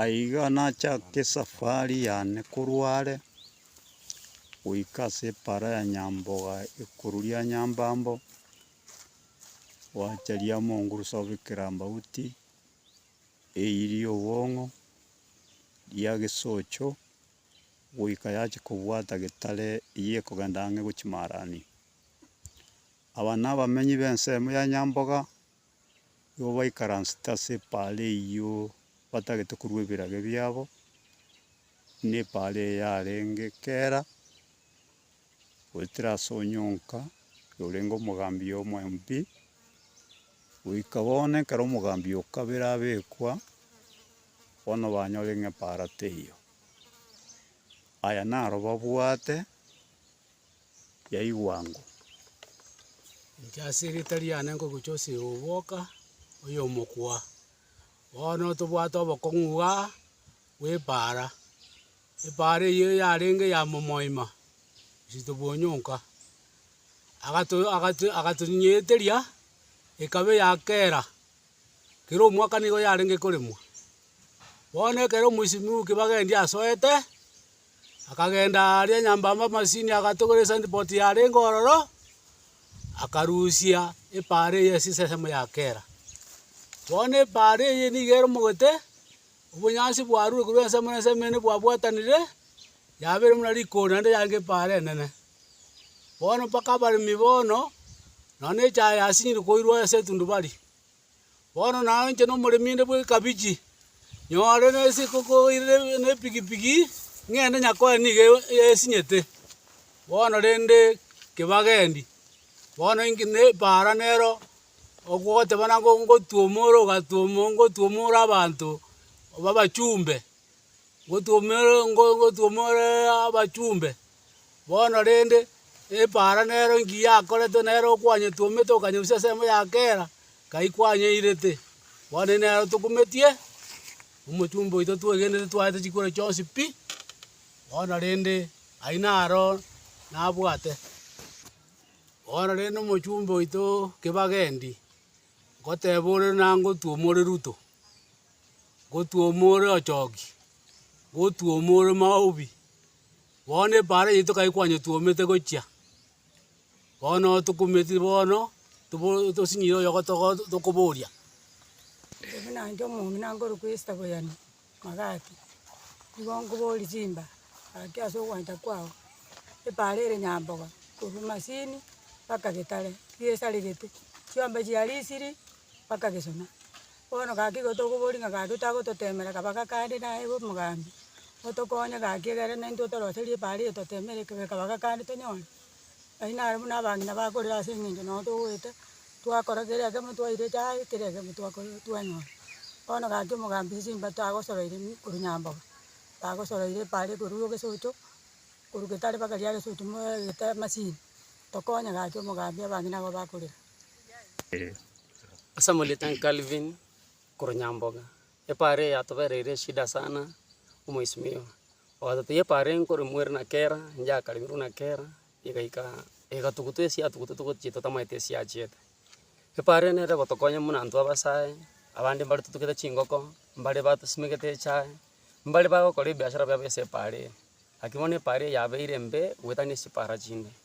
Aiga nachake esafari yane korwa are goika ase epaara ya Nyamboga ekuru ria Nyambambo, gwacha ria Mongurusa gobekera Ambauti, eyi ria Obong'o, ria Gesocho, goika yache kobwata getare eyi ekogenda ang'e gochia Marani. Aba nabamenyi b'ensemo ya Nyamboga. Igo baikaransete ase epaara eyio batagete korwa ebirage biabo, buna epaara eye yarenge kera, goetera ase onyonka orenge omogambi oye omoempi, goika bono ekero omogambi oye o kabere abekwa, bono banyore ng'a epaara teiyo. Aya naro babwate. yaigwa ng'o. Inche ase erieta riane ngogocha ase oboka oyomokwa. Bono tobwate obokong'u iga bw'epaara, epaara eyio yarenge ya momoima Kizito Bwonyonka, agato agato agatonyeteria ekabe ya kera, kera omwaka nigo yarenge koremwa. Bono ekero omoisimi oke bagendi asoete. Akagenda aaria nyambamba amasini, agatogora esandiboti yarenge ororo, akarusia epaara eye ase esesemo ya kera. Bono epaara eye nigo eromogete, obonyansi bwarure korwa ensemo na ensemo ere bwabwatanire, yabeire buna rikori naende yarenge epaara enene. Bono mpaka abaremi bono, nonya na echaye yasinyire koirwa ase etundubari. Bono naye inche nomoremi inde bw'ekabichi, nyore nase ekokoirire nepigipigi, ng'ende Nyakoe nigo e- esinyete. Bono rende kebagendi, bono inki ne epaara nero ogoteba nabo ngotwoma ore ogatwoma ngotwoma ore abanto b'abachumbe, ngotwoma ere ngo- ngo- ngotwoma oreee abachumbe. Bono rende, epaara nero inki yakoretwe nere okwanyetwe omete okanyeusia ensemo ya kera kai kwanyeirete? Bono erio nero tokumetie omochumba oito twegenete twaete chikure chionsi pi, bono rende ayio naro nabwate. Bono rende omochumba oito kebagendi, ngoteba ore nangotuoma ore Ruto, ngotuoma ore Ochoki, ngotuoma ore Maobi. Bono epaara yaito tokabia kwanyetwomete gochia, bono tokumeti bono tobo- tosinyire oyogotogo tokoboria. Buna inche omong'ina nkorokwa Esta Boyani Magati, nigo nkoboria chimba gaki ase ogwancha kwao, epaara ere nyamboga korwa Masini mpaka Getare, chigesaregete, chiombe chiaria isiri mpaka Gesona. bono gaki igo tokoboria ng'a gaki tagototemera kaba gakande naye bo omogambi, otokonye gaki egere na intwe otoroserie epaara eye totemere ekebe kaba gakande tonyore, aywo naro buna abang'ina bakorire ase eng'encho nabo togoeta, twakora kera egemo twaira echae kera egemo twakora twanyora. Bono gaki omogambi esimba tagosoraire mi korwa nyambogo, tagosoraire epaara ekorwa egesocho, korwa getari mpaka riare egesocho moegete masini, tokonye gaki omogambi abang'ina abwo bakorire. Ase amarieta e Calvin korwa Nyamboga, epara eye yatobereire eshida sana, omoisimio ogatotebia epara eye nkorimorera na kera, inche akaremirwe na kera, egaika egatugutwa ase yatugutwa togochia totamaete ase yachiete. Epara eye nere egotokonya buna intwe abasae, abande mbare totugete chingoko, mbare batosimegete echae, mbare bagokora ebiashara biabo ase epara eye. Naki bono epara eye yabeire embe goetania ase chipara chinde.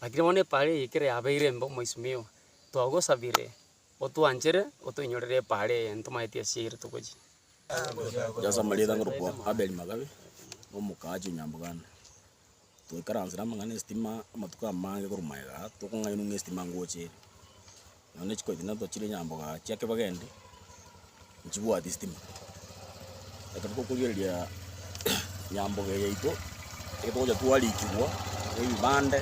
Lakini bono epaara eye ekero yabeire embe omoisimiwa, twagosabire otwanchere otoinyorere epaara eye ntomaeti ase eyere togochia. Yasama ritang'ani kwa Abel Magabe na omokaache o Nyamboganda. Twaikaransire amang'ana esitima amatuko amange korwa magega aa, tokong'ainwa ng'a esitima ngocha ere. Nonya chiko echi nato chire nyamboga chia kebaga ende, nchibwati sitima. Ekero tokorigereria nyamboga eye yaito, ekero togocha twarikigwa ebibande,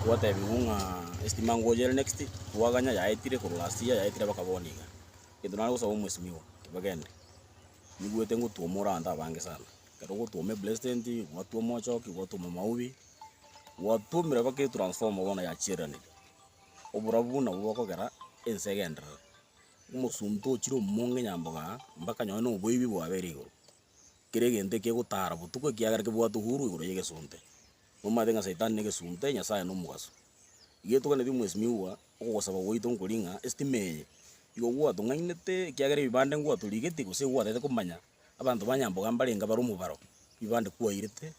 twatebigwa ng'a esitima ngochera next, twaganya yaetire korwa last year yaetire mpaka bono iga. Egento nare gosaba omosimi oo kebaga ende, nigwete ngotwoma ore abanto abange sana. Ekero ogotwoma epresident, gwatwoma ochoki, gwatwoma maubi, gwatwomire mpaka etransformer bono yachireranire. oborabu buna obwo bokogera ense egenderere. Omosomba tochire omonge nyamboga aa, mpaka nonye na oboibi bwabere igoro, kera egento ekegotara botuko ekiagera kebwate uhuru igoro ya egesonte. Omanyete ng'a saitani na egesonte, Nyasae na omogaso. Iga etoganeti mwesimiwa, ogosaba gwaito nkori ng'a estima eye, igo gwatong'ainete ekiagera ebibande ngwatorigeti gose igo gwataete komanya abanto ba nyamboga mbarenge bare omobaro, ebibande kwairete,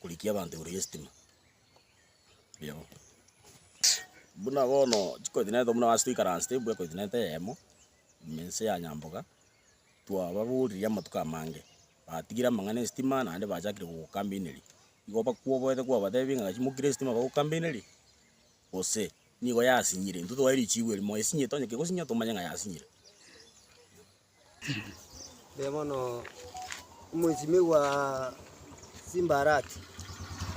korikia abanto igoro y'estima. Yebo. Buna bono chikontinenti buna ase toikaransete mbwe ekontinenti eyemo, ime ense ya Nyamboga, twababoririe amatuko amange, batigire amang'ana esitima naende bachakire gogokambeneria. Igo bakwoboete kwabatebi ng'a gaki mokire esitima bagokambenerie, gose nigo yasinyire. Intwe twae richigu eri moe sinyete onye kegosinya tomanye ng'a yasinyire. Inee bono omosimi bwa Simbarati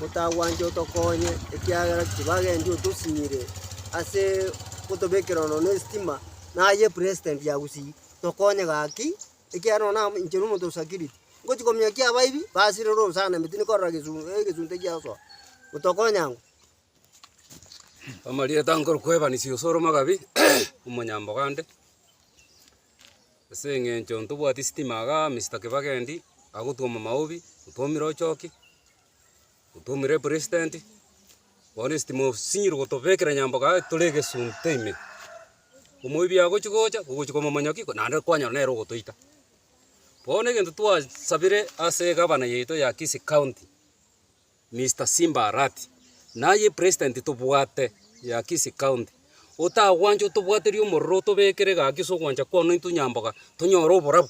otagwancha otokonye, ekiagera chibagencho otosinyire ase otobekera ono ne estima, naye president ya Gusii, tokonye gaki, ekiagera nonye nabo inche nomonto osakiriri, ngochi kominyokia abaibi, basirire orosana ime tindi korora gesu egesunte giagosoa, otokonya ng'o. Amarieta nkorokwa Evans osore omogabi omonyambogo ande, ase eng'encho ntobwati sitima igaa Mister Kibaki endi agotwoma maobi, otwomire ochoki, otwomire president, bono estima osinyire gotobekera nyambogo aye tore egesunte ime, omoibi agochi gocha ogochi komomonya ki naende kwanyora nere ogotoita. Bono egento twasabire ase egabana yaito ya Kisii county. Mister Simba Arati, Naye president tobwate ya Kisii county, otagwancha otobwaterie omororo otobekere gaki ase ogwancha kwane intwe nyamboga tonyore oborabu.